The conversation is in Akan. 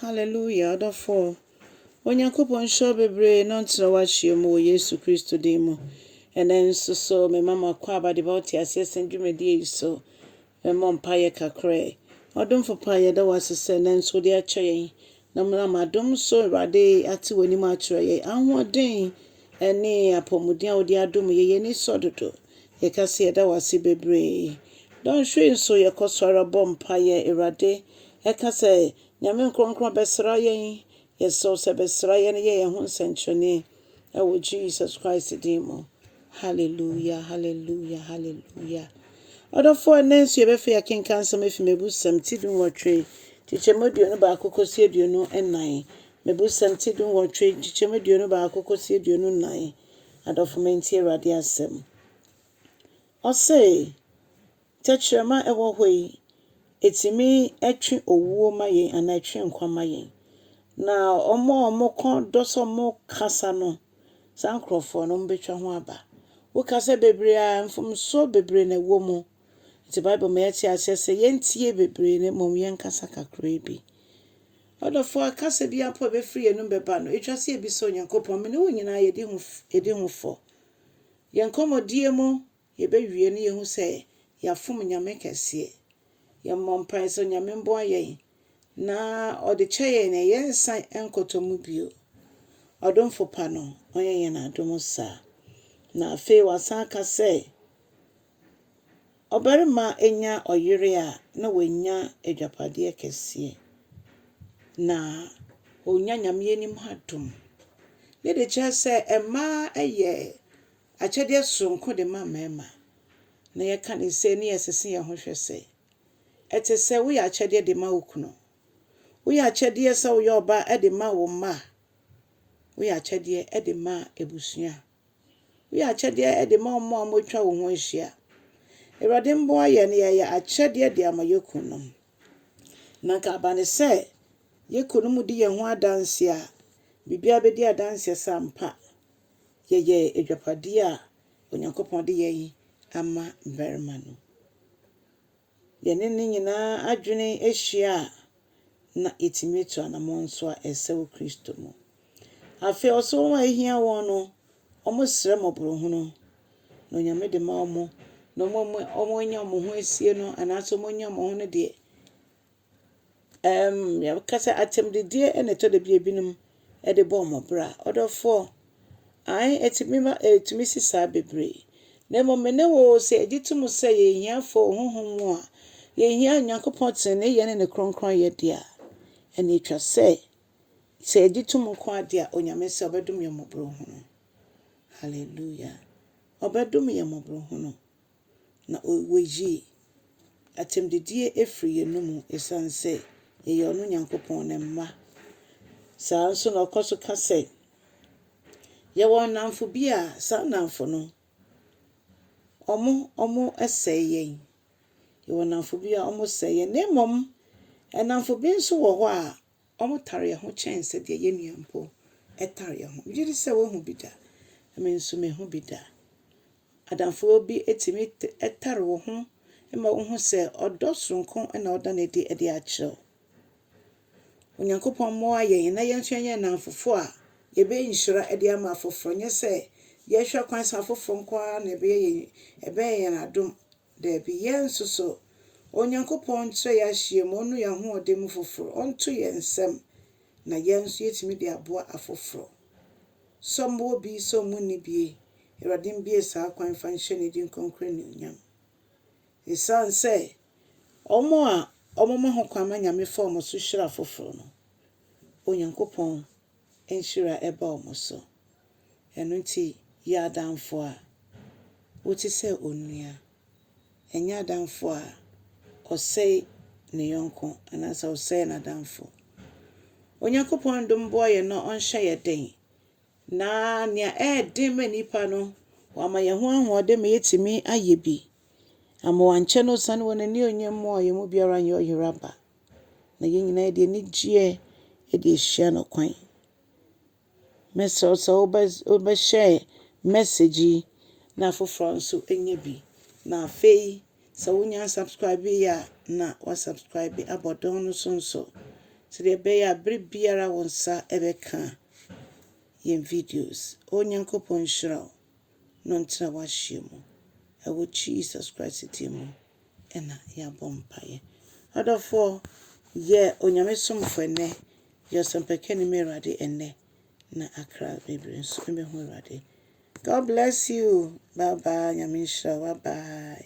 Hallelujah adɔfoɔ Onyankopɔn nhyira wo bebree na ɔntena wo akyire mu wɔ Yesu Kristo din mu. Ɛnɛ nso so mema mo akɔ aba de ba wo te aseɛ sɛn dwumadie yi so. Mɛmmɔ mpaeɛ kakra yi. Ɔdomfo pa yɛda wo ase sɛ ɛnɛ nso wode akyɛ yɛn na menam adom so Awurade ate w'anim akyerɛ yɛn. Ahoɔden ɛne apɔmuden a wode adom yɛn, yɛn ani sɔ dodo. Yɛka sɛ yɛda wo ase bebree. Dɔnhwere nso yɛkɔ so ara bɔ mpaeɛ. Awurade ɛka sɛ Nyame nkrɔnkrɔn bɛsra yɛn. Yɛsrɛ wo sɛ bɛsra yɛn na yɛ yɛn ho nsɛnkyerɛnee ɛwɔ Jesus Christ din mu. Hallelujah, hallelujah, hallelujah. Ɔdɔfoɔ ɛnɛ nso yɛbɛfɛ yɛkenka nsɛm afi mebusɛm ti du nwɔtwe kyekyɛmu aduonu baako kɔsi aduonu nnan. Mebusɛm ti du nwɔtwe kyekyɛmu aduonu baako kɔsi aduonu nnan. Adɔfo mentie Awurade asɛm. Ɔse, tɛkyerɛma a ɛwɔ hɔ yi, ɛtumi twe owuo ma yɛn anaa ɛtwe nkwa ma yɛn. Na wɔn a wɔn kɔn dɔ sɛ wɔn kasa no, saa nkurɔfoɔ no, wɔn bɛtwa ho aba. Wo kasa bebree a, mfomsoɔ bebree na ɛwɔ mu. Nti Bible ma yɛte aseɛ sɛ yɛntie bebree na mmom yɛnkasa kakraa bi. Ɔdɔfo a kasa biara mpo a ebefiri yɛn anom bɛba no, etwa sɛ yebisa Onyankopɔn. Me ne wo nyinaa yedi ho yedi ho fɔ. Yɛn nkɔmmɔdie mu, yebewie na yɛahu sɛ yɛafom Nyame kɛseɛ. Yɛmmɔ mpae sɛ Onyame mboa yɛn na Ɔde kyɛ yɛn na yɛnsan nkɔtɔ mu bio. Ɔdomfo pa no, Ɔnyɛ yɛn adom saa. Na afei Wasan aka sɛ. Ɔbarima nya ɔyere a, na wanya agyapadeɛ kɛseɛ. Na ɔnya Nyame anim ha dom. Ne de kyerɛ sɛ mmaa yɛ akyɛdeɛ sononko de ma mmarima. Na yɛka no sɛ ne yɛsese yɛn ho hwɛ sɛ, ɛte sɛ woyɛ akyɛdeɛ de ma wo kunu. Woyɛ akyɛdeɛ sɛ woyɛ ɔba de ma wo mma. Woyɛ akyɛdeɛ de ma abusua. Woyɛ akyɛdeɛ de ma wɔn a wɔatwa wo ho ahyia. Awurade mmoa yɛn na yɛyɛ akyɛdeɛ de ama yɛn kununom. Na anka aba no sɛ yɛn kununom di yɛn ho adanseɛ a, biribiara bɛdi adanseɛ sɛ ampa yɛyɛ adwapadeɛ a Onyankopɔn de yɛn ama mmarima no. yɛne ne nyinaa adwene hyia a, na yɛtumi atu anammɔn nso a ɛsɛ wɔ Kristo mu. Afei ɔsɛ wɔn a ahia wɔn no, wɔsrɛ mmɔborohunu, na Onyame de ma wɔn, na wɔn a wɔanya wɔn ho asie no, anaasɛ wɔanya wɔn ho no deɛ, Ɛɛm, yɛka sɛ atɛmdidie na ɛtɔ da bi a ebinom de bɔ wɔn bra. Ɔdɔfoɔ, ae, ɛtumi ba, ɛtumi si saa bebree. Na mmom me ne wo sɛ yɛgye tom sɛ yɛyɛ ahiafoɔ wɔ honhom mu a, yɛhia Onyankopɔn teneneeyɛ ne ne kronkronyɛ deɛ a, ɛna ɛtwa sɛ sɛ yɛgye tom nko ara deɛ a, Onyame sɛ ɔbɛdom yɛn mmɔborɔhunu. Hallelujah. Ɔbɛdom yɛn mmɔborɔhunu. na wayi atɛmdidie afiri yɛn anomu ɛsiane sɛ yɛyɛ ɔno Nyankopɔn ne mma. Saa ara nso na ɔkɔ so ka sɛ, Yɛwɔ nnamfo bi a saa nnamfo no, wɔn wɔsɛe yɛn. Yɛwɔ nnamfo bi a wɔsɛe yɛn. Na mmom nnamfo bi nso wɔ hɔ a Wɔtare yɛn ho kyɛn sɛdeɛ yɛn nua mpo tare yɛn ho. Megye di sɛ woahu bi da. Me nso mahu bi da. Adamfoɔ bi tumi tare wo ho ma wohu sɛ ɔdɔ soronko na ɔda no adi de akyerɛ wo. Onyankopɔn mmoa yɛn na yɛn nso yɛnyɛ nnamfofoɔ a yɛbɛyɛ nhyira de ama afoforɔ, nyɛ sɛ yɛhwɛ kwan sɛ afoforɔ nko ara na ɛbɛyɛ yɛn adom. Dabi, yɛn nso so. Onyankopɔn nkyerɛ yɛn ahyiam, ɔnnu yɛn ahoɔden mu foforo, ɔnto yɛn nsam, na yɛn nso yɛatumi de aboa afoforo. Sɛ ɔmma obi, sɛ ɔmma onni bi, Awurade mbue saa kwan fa nhyɛ ne din kronkron anuonyam. Esiane sɛ wɔn a wɔma ho kwan ma Nyame fa wɔn so hyira afoforo no, Onyankopɔn nhyira ɛba wɔn so. Ɛno nti yɛ adamfo a wote sɛ onua. Ɛnyɛ adamfo a ɔsɛe ne yɔnko anaasɛ ɔsɛe n'adamfo. Onyankopɔn dom boa yɛn na ɔnhyɛ yɛn den. Na nea ɛyɛ den ma nnipa no, wama yɛn ho ahoɔden ma yɛatumi ayɛ bi. Ama wɔankyɛ no osiane wɔn anuonyam mu a yɛn mu biara nyɛ ɔyera ba. na yɛn nyinaa yɛde anigyeɛ de ahyia no kwan. Mɛsrɛ wo sɛ wobɛ wobɛhyɛɛ message yi na afoforɔ nso anya bi. Na afei sɛ wonnya nsubscribe yɛ a na wasubscribe abɔ dɔn no so nso sɛdeɛ ɛbɛyɛ a berɛ biara wo nsa ɛbɛka yɛn videos. O Nyankopɔn nhyira wo. no ntena w'ahyeɛ mu. Ɛwɔ Jesus Christ din mu na yɛabɔ mpaeɛ. Adɔfoɔ, yɛ Onyame somfoɔ ɛnnɛ, yɛ Ɔsɛmpakani ma Awurade ɛnnɛ, na akra bebree nso mmɛhu Awurade. God bless you, bye bye, Nyame nhyira wo, bye bye.